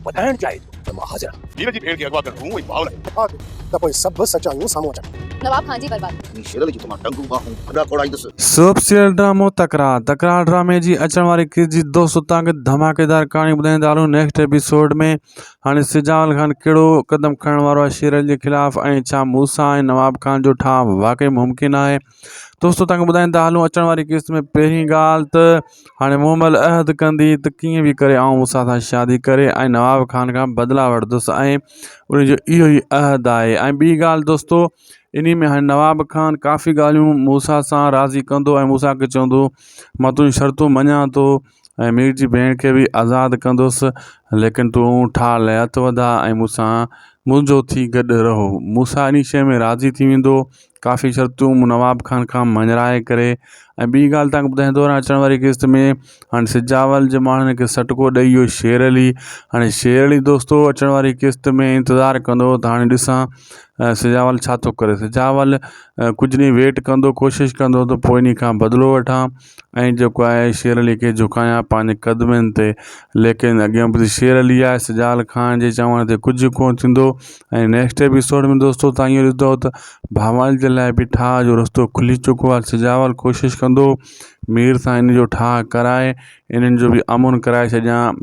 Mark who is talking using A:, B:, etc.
A: ٻڌائڻ چاهي ٿو ته مان حاضر آهيان. مير جي ڀيڻ کي اغوا ڪرڻ مون ۽ ڀاء لاء هو. ها ته پوء سڀ سچايون سامهون اچن. نواب خان جي بربادي.
B: ۽ شيرل جي ته مان ٽنگون
A: ٻانهون ڦڏا کوڙائيندس. سوپ سيل ڊرامو
C: تڪرار تڪرار ڊرامي جي اچڻ واري قسط جي دوست اتان ڪي ڌماڪيدار ڪهاڻي ٻڌائيندا هلون نيڪسٽ ايپيسوڊ ۾ هاڻي سجاول خان ڪهڙو قدم کڻڻ وارو آهي شيرل جي خلاف ۽ ڇا موسيٰ ۽ نواب خان جو ٺاهه واقعي ممڪن آهي دوستو تنگ ٻڌائين ته هلون اچڻ واري قسط ۾ پهرين ڳالهه ته هاڻي مون مل عهد ڪندي ته ڪيئن به ڪري آئون موسا سان شادي ڪري ۽ نواب خان کان بدلا وٺندس ۽ ان جو اهو ئي عهد آهي ۽ ٻي ڳالهه دوستو انهي ۾ هاڻي نواب خان ڪافي ڳالهيون موسا سان راضي ڪندو ۽ موسا کي چوندو مان تون شرطون مڃان ٿو ۽ مير جي ڀيڻ کي به آزاد ڪندس، ليڪن تون ٺاهه ليئات وڌاء ۽ مون سان منهنجو ٿي گڏ رهو. موسيٰ انهي شيء ۾ راضي ٿي ويندو. ڪافي شرطون مون نواب خان کان مڃرائي ڪري ۽ ٻي ڳالهه توهان کي ٻڌائيندو هلان اچڻ واري قسط ۾ هاڻي سجاول جي ماڻهن کي سٽڪو ڏئي اهو شير علي هاڻي شير علي دوستو اچڻ واري قسط ۾ انتظار ڪندو ته هاڻي ڏسان سجاول ڇا ٿو ڪري سجاول ڪجهه ڏينهن ويٽ ڪندو ڪوشش ڪندو ته پوء انهي کان بدلو وٺان ۽ جيڪو آء شير عليء کي جهڪايان پنهنجي قدمن تي، ليڪن اڳيان ٻڌ شير علي آء سجال خان جي چوڻ تي ڪجهه به ڪونه ٿيندو ۽ نيڪسٽ ايپيسوڊ ۾ دوستو تهان اهو ڏسندؤ ته ڀانوال جي لاء به ٺاهه جو رستو کلي چڪو آهي سجاول ڪوشش ڪندو مير سان ان جو ٺاهه ڪرائي انهن جو به امن ڪرائي ڇڏيان